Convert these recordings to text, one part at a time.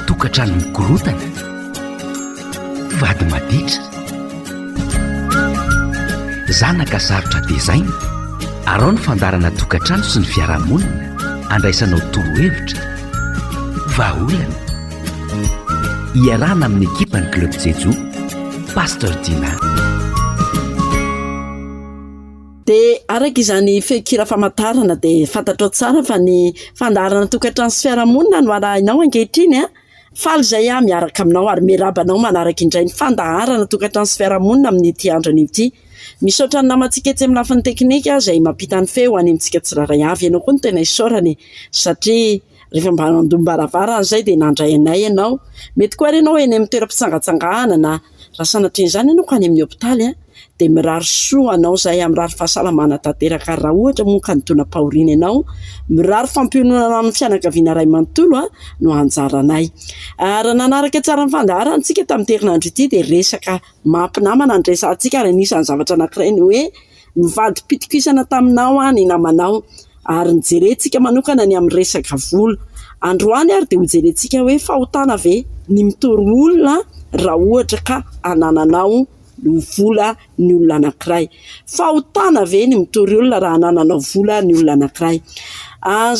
Tokantrano mikorontana, vady maditra, zanaka sarotra tezaina, arao ny fandaharana tokantrano sy ny fiarahamonina, andraisanao torohevitra, vahaolana. Iarahana amin'ny ekipan'ny Club Jejo, Pasteur Dina. Dia araka izany feon-kira famantarana dia fantatrao tsara fa ny fandaharana tokantrano sy fiarahamonina no arahinao ankehitriny an! Faly izay aho miaraka aminao ary miarahaba anao manaraka indray ny fandaharana tokantrano sy fiarahamonina amin'ity andro anio ity. Misaotra ny namantsika etsy amin'ny lafiny teknika izay mampita ny feo ho any amintsika tsirairay avy. Ianao koa no tena isaorana e! Satria. Rehefa mba nandom-baravarana izay dia nandray anay ianao. Mety koa ary ianao eny amin'ny toeram-pitsangatsanganana na raha sanatria izany ianao ka any amin'ny hopitaly dia mirary soa anao izay ary mirary fahasalamana tanteraka ary raha ohatra moa ka nidonam-pahoriana ianao mirary fampiononana amin'ny fianakaviana iray manontolo no anjaranay. Raha nanaraka tsara ny fandaharantsika tamin'ity herinandro ity dia resaka maha mpinamana no niresahantsika ary anisan'ny zavatra anankiray ny hoe Nivadi-pitokisana taminao aho ny namanao ary nijerentsika manokana ny amin'ny resaka vola. Androany ary dia hojerentsika hoe fahotana ve ny mitory olona raha ohatra ka anananao ny vola ny olona anankiray. Fahotana ve ny mitory olona raha anananao vola ny olona anankiray.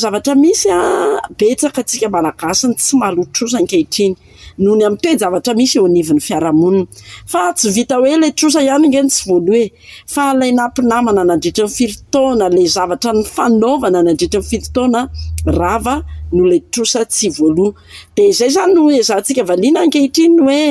Zavatra misy, betsaka antsika Malagasy no tsy maloha trosa ankehitriny. noho ny amin'ny toe-javatra misy eo anivon'ny fiarahamonina. Fa tsy vita hoe ilay trosa ihany ange no tsy voaloha e! Fa ilay nampinamana nandritry ny firy taona, ilay zavatra nifanaovana nandritry ny firy taona rava no ilay trosa tsy voaloha. Dia izay izany no ezahantsika valiana ankehitriny hoe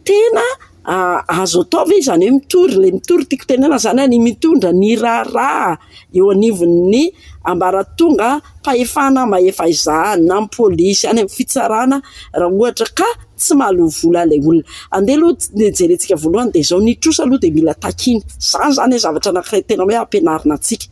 tena. Azo atao ve izany hoe mitory? Ilay mitory tiako tenenana zany hoe mitondra ny raharaha eo anivon'ny ambaratongam-pahefana mahefa izany na amin'ny polisy any amin'ny fitsarana raha ohatra ka tsy mahaloa vola ilay olona. Andeha aloha ny jerentsika voalohany dia izao ny trosa aloha dia mila takiana. Izany zany hoe zavatra anankiray tena hoe ampianarina antsika.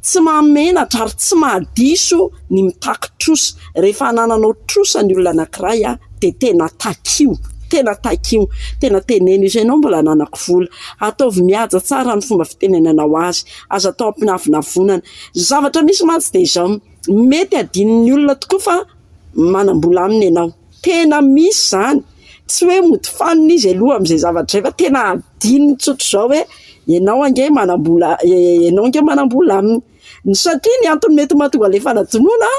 Tsy mahamenatra ary tsy mahadiso ny mitaky trosa. Rehefa anananao trosa ny olona anankiray a. dia tena takio, tena takio, tena teneno izay ianao mbola hananako vola, ataovy mihaja tsara ny fomba fitenenanao azy, aza atao ampianavonavonana, ny zavatra misy mantsy dia izao, mety hadinon'ny olona tokoa fa manam-bola aminy ianao, tena misy izany, tsy hoe mody fanina izy aloha amin'izay zavatra izay fa tena hadinony tsotra izao hoe ianao ange manam-bola, ianao ange manam-bola aminy. Ny satria ny antony mety mahatonga an'le fanadinoana a,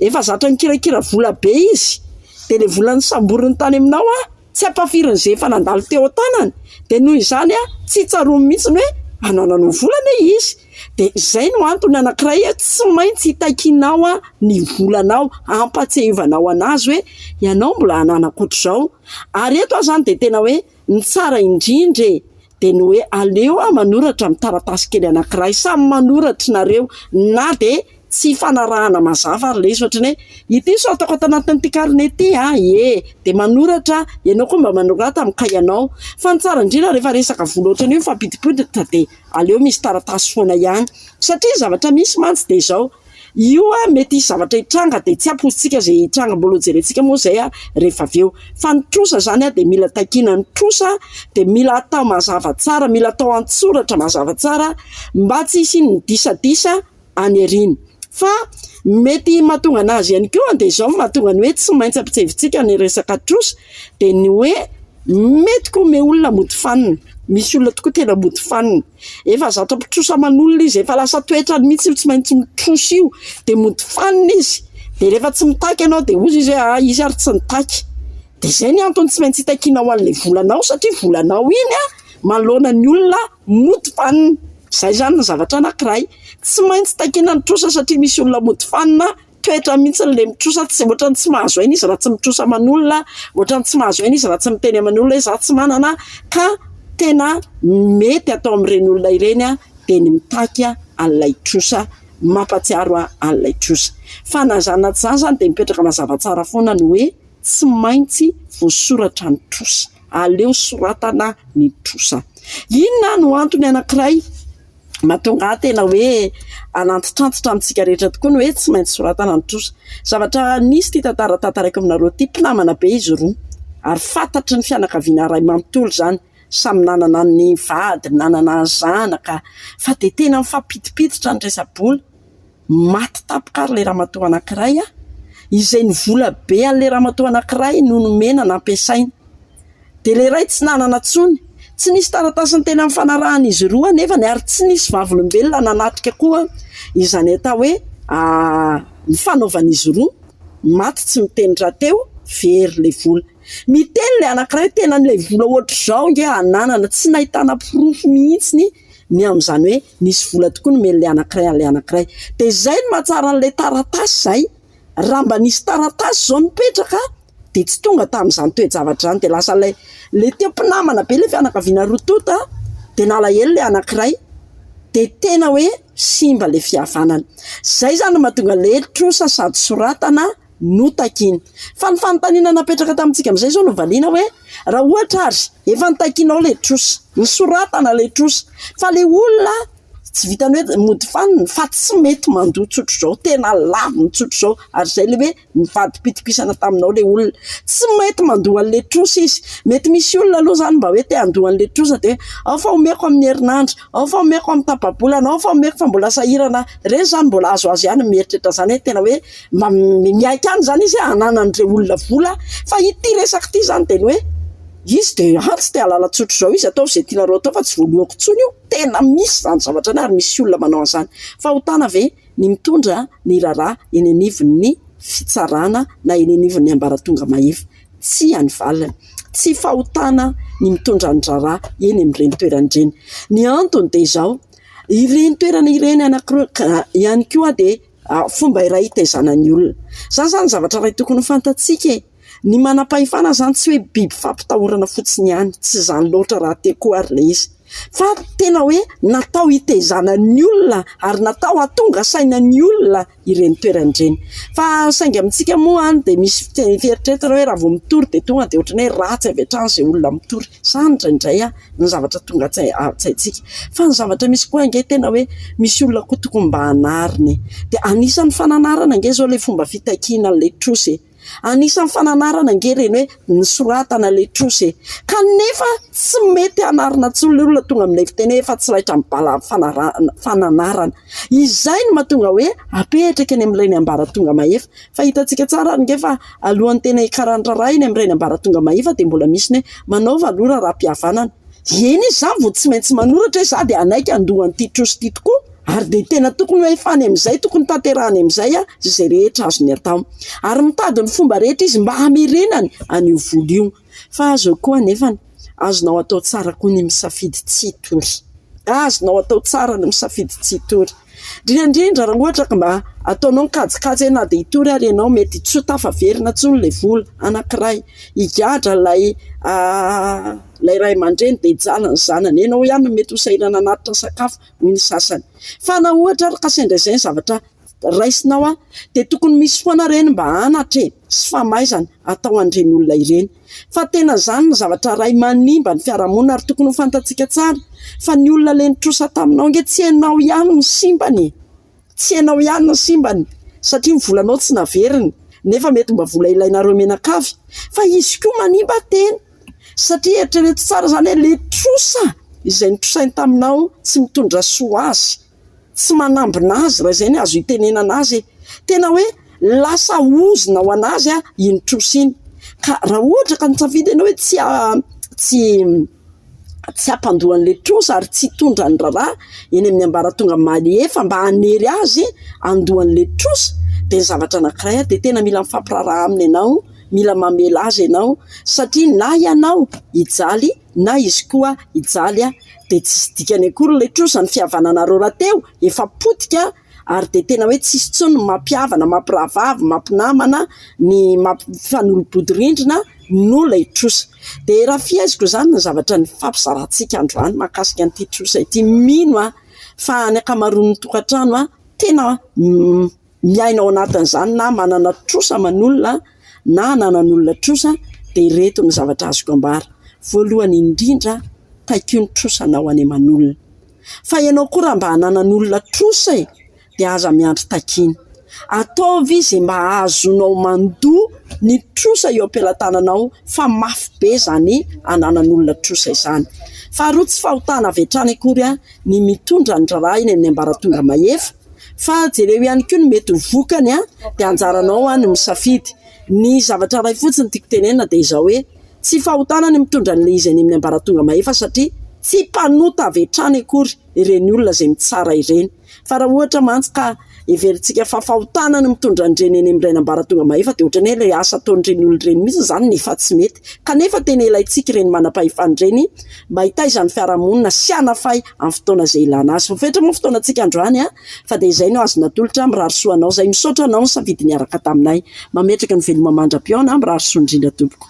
efa zatra nikirakira vola be izy, de le vola nosamboriny tany aminao a, tsy ampahafiriny ze efa nandalo teo an-tanany, de noho izany a, tsy tsaroany mihitsy ny hoe anananao vola anie izy, de zay no antony anankiray hoe tsy maintsy hitakianao a ny volanao, hampatsiahivanaho anazy hoe ianao mbola hanana ankoatr'izao, ary eto aho zany de tena hoe Ny tsara indrindra e de ny hoe aleo aho manoratra amin'ny taratasy kely anankiray samy manoratry nareo na de tsy ifanarahana mazava ary le izy ohatrany hoe ity sao ataoko ato anatin'ity karne ity a ie de manoratra aho ianao koa mba manorata amin'ny kahianao fa ny tsara indrindra rehefa resaka vola ohatrany hoe mifampidimpoiditra de aleo misy taratasy foana ihany satria zavatra misy mantsy de zao io an mety hisy zavatra hitranga dia tsy ampoizitsika izay hitranga mbola ho jerentsika moa izay an rehefa avy eo fa ny trosa izany an dia mila takiana ny trosa dia mila atao mazava tsara mila atao an-tsoratra mazava tsara mba tsy hisian'ny disadisa any aoriana fa mety mahatonga an'azy ihany koa dia izao no mahatonga ny hoe tsy maintsy ampitsevitsika ny resaka trosa dia ny hoe mety koa me olona mody fanina misy olona tokoa tena mody fanina Efa zato amby trosa aman'olona izy, efa lasa toetrany mihitsy io tsy maintsy mitrosa io, dia mody fanina izy, dia rehefa tsy mitaky ianao dia hozy izy hoe ahy izy ary tsy nitaky, dia zay ny antony tsy maintsy itakianao an'ilay volanao satria volanao iny a manoloana ny olona mody fanina, zay zany ny zavatra anakiray tsy maintsy takiana ny trosa satria misy olona mody fanina toetra mihitsy ilay mitrosa tsy ohatrany tsy mahazo aina izy raha tsy mitrosa aman'olona, ohatrany tsy mahazo aina izy raha tsy miteny aman'olona hoe za tsy manana ka tena mety atao amin'ireny olona ireny aho dia ny mitaky aho an'ilay trosa mampatsiaro ahy an'ilay trosa. Fa na zany na tsy zany zany dia mipetraka mazava tsara foana ny hoe tsy maintsy voasoratra ny trosa, aleo soratana ny trosa. Inona no antony anankiray? Mahatonga ahy tena hoe hanantitrantitra amintsika rehetra tokoa ny hoe tsy maintsy soratana ny trosa. Zavatra nisy ity tantara tantaraiko aminareo ity. Mpinamana be izy roa ary fantatry ny fianakaviana iray manontolo izany. Samy nanana ny vadiny, nanana ny zanaka fa dia tena mifampidipiditra ny resa-bola. Maty tampoka ary ilay ramatoa anankiray an! izay ny vola be an'ilay ramatoa anankiray no nomena nampiasaina. Dia ilay iray tsy nanana intsony. Tsy nisy taratasiny teny amin'ny fanarahan'izy ireo anefany ary tsy nisy vavolombelona nanatrika koa izany atao hoe ny fanaovan'izy roa. Maty tsy miteny rahateo, very ilay vola. Miteny ilay anankiray hoe tena an'ilay vola ohatr'izao ange ananana, tsy nahitana porofo mihitsy ny amin'izany hoe nisy vola tokoa nomen'ilay anankiray an'ilay anankiray. Dia izay no mahatsara an'ilay taratasy izay, raha mba nisy taratasy izao nipetraka dia tsy tonga tamin'izany toe-javatra izany, dia lasa ilay ilay teo mpinamana be ilay fianakaviana roa tonta dia nalahelo ilay anankiray, dia tena hoe simba ilay fihavanana. Izay izany no mahatonga ilay trosa sady soratana. notakiny. Fa ny fanontaniana napetraka tamintsika amin'izay izao no valiana hoe, raha ohatra ary efa notakinao ilay trosa, nosoratana ilay trosa, fa ilay olona tsy vitan'ny hoe mody fanina fa tsy mety mandoa tsotra izao, tena laviny tsotra izao, ary izay ilay hoe nivadi-pitokisana taminao ilay olona. Tsy mety mandoa an'ilay trosa izy. Mety misy olona aloha izany mba hoe te handoa an'ilay trosa dia, ao fa omeko amin'ny herinandro, ao fa omeko amin'ny tapa-bolana, ao fa omeko fa mbola sahirana aho. Ireny izany mbola azo azy ihany ny mieritreritra izany hoe tena hoe. Mba miaiky any izany izy hananan'ireo olona vola. Fa ity resaka ity izany dia ny hoe izy dia any tsy te hahalala tsotra izao izy, ataovy izay tianareo atao fa tsy vonoako intsony io. Tena misy izany zavatra izany ary misy olona manao an'izany. Fahotana ve ny mitondra ny raharaha eny anivon'ny fitsarana na eny anivon'ny ambaratonga mahefa? Tsia ny valiny. Tsy fahotana ny mitondra ny raharaha eny amin'ireny toerana ireny. Ny antony dia izao, ireny toerana ireny anankiroa ihany koa dia. fomba iray hitaizana ny olona. Izany izany zavatra iray tokony ho fantatsika e ! Ny manam-pahefana izany tsy hoe biby fampitahorana fotsiny ihany, tsy izany loatra raha te ko ary ilay izy. Fa tena hoe natao hitaizana ny olona ary natao hahatonga saina ny olona ireny toerana ireny. Fa saingy amintsika moa any dia misy fieritreretana hoe raha vao mitory dia tonga dia ohatran'ny hoe ratsy avy hatrany izay olona mitory. Izany indraindray an! ny zavatra tonga an-tsaintsika fa ny zavatra misy koa ange tena hoe misy olona koa tokony mba hanarina e! dia anisan'ny fananarana ange izao ilay fomba fitakiana an'ilay trosa e! anisan'ny fananarana ange ireny hoe ny soratana ilay trosa e! kanefa tsy mety hanarina intsony ilay olona tonga amin'ilay fiteny hoe efa tsy raitra amin'ny bala fanarahana, fananarana izay no mahatonga hoe apetraka eny amin'ilay ny ambaratonga mahefa Fa hitantsika tsara ary ange fa alohan'ny tena hikaran'ny raharaha eny amin'ny Rainy ambaratonga mahefa dia mbola misy ny hoe manaova aloha raharaham-pihavanana. Eny izy izany vao tsy maintsy manoratra hoe za dia hanaiky handoa an'ity trosa ity tokoa ary dia tena tokony ho efa any amin'izay, tokony tanterahany amin'izay izay rehetra azony atao. Ary mitady ny fomba rehetra izy mba hamerenany an'io vola io. Fa azo koa anefa, azonao atao tsara koa ny misafidy tsy hitory. Azonao atao tsara ny misafidy tsy hitory. Indrindra indrindra raha ohatra ka mba ataonao ny kajikajy hoe na dia hitory ary ianao mety tsy ho tafaverina intsony ilay vola anankiray. Higadra ilay ilay ray aman-dreny dia hijaly ny zanany. Ianao ihany no mety ho sahirana hanatitra sakafo hoy ny sasany. Fa na ohatra ary ka sendra izay ny zavatra, raisinao an, dia tokony misy foana ireny mba hanatra e, sy famaizana atao an'ireny olona ireny, fa tena izany no zavatra iray manimba ny fiarahamonina ary tokony ho fantatsika tsara fa ny olona le nitrosa taminao ange tsy ianao ihany no simbany e, tsy ianao ihany no simbany satria ny volanao tsy naveriny nefa mety mba vola ilainareo mianakavy fa izy koa manimba tena satria eritrereto tsara izany hoe le trosa izay nitrosainy taminao tsy mitondra soa ho azy. tsy manambina azy raha izay ny azo itenenana azy e! tena hoe lasa ozona ho an'azy an iny trosa iny ka raha ohatra ka nisafidy ianao hoe tsy tsy tsy hampandoa an'ilay trosa ary tsy hitondra ny raharaha eny amin'ny ambaratonga mahefa mba hanery azy handoa an'ilay trosa dia ny zavatra anankiray dia tena mila mifampiraharaha aminy ianao mila mamela azy ianao satria na ianao hijaly na izy koa hijaly dia tsisy dikany akory ilay trosa, ny fihavananareo rahateo efa potika ary dia tena hoe tsisy intsony ny mampihavana, mampirahavavy, mampinamana, ny mampifanolo-bodirindrina noho ilay trosa. Dia raha fiheziko izany ny zavatra nifampizarantsika androany mahakasika an'ity trosa ity, mino aho fa ny ankamaroan'ny tokantrano tena miaina ao anatin'izany na manana trosa aman'olona na ananan'olona trosa dia ireto ny zavatra azoko ambara. Voalohany indrindra, taikio ny trosanao any aman'olona. Fa ianao koa raha mba ananan'olona trosa e! dia aza miandry takiana. Ataovy izay mba hahazoanao mandoa ny trosa eo am-pelatananao fa mafy be izany ananan'olona trosa izany. Faharoa, tsy fahotana avy hatrany akory an! ny mitondra ny raharaha eny amin'ny ambaratonga mahefa fa jereo ihany koa ny mety ho vokany an dia anjaranao an ny misafidy ny zavatra iray fotsiny tiako tenenina dia izao hoe tsy fahotana ny mitondra an'ilay izy any amin'ny ambaratonga mahefa satria tsy mpanota avy hatrany akory ireny olona izay mitsara ireny fa raha ohatra mantsy ka Heverintsika fa fahotana ny mitondra an'ireny eny amin'ny rain'ambaratonga mahefa dia ohatran'ny hoe ilay asa ataon'ireny olona ireny mihitsy izany no efa tsy mety. Kanefa tena ilaintsika ireny manam-pahefana ireny mba hitaiza ny fiarahamonina sy hanafay amin'ny fotoana izay ilana azy. Voafetra moa ny fotoanantsika androany fa dia izay no azo natolotra. Mirary soa anao izay. Misaotra anao nisafidy niaraka taminay. Mametraka ny veloma mandra-pihaona. Mirary soa indrindra tompoko.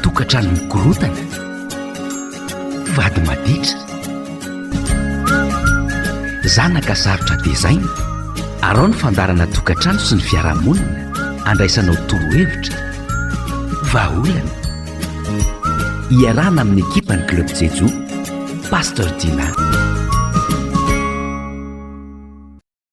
Tokantrano mikorontana, vady maditra, zanaka sarotra tezaina, arao ny fandaharana tokantrano sy ny fiarahamonina, andraisanao torohevitra, vahaolana. Iarahana amin'ny ekipan'ny Club Jejoo, Pasteur Dina.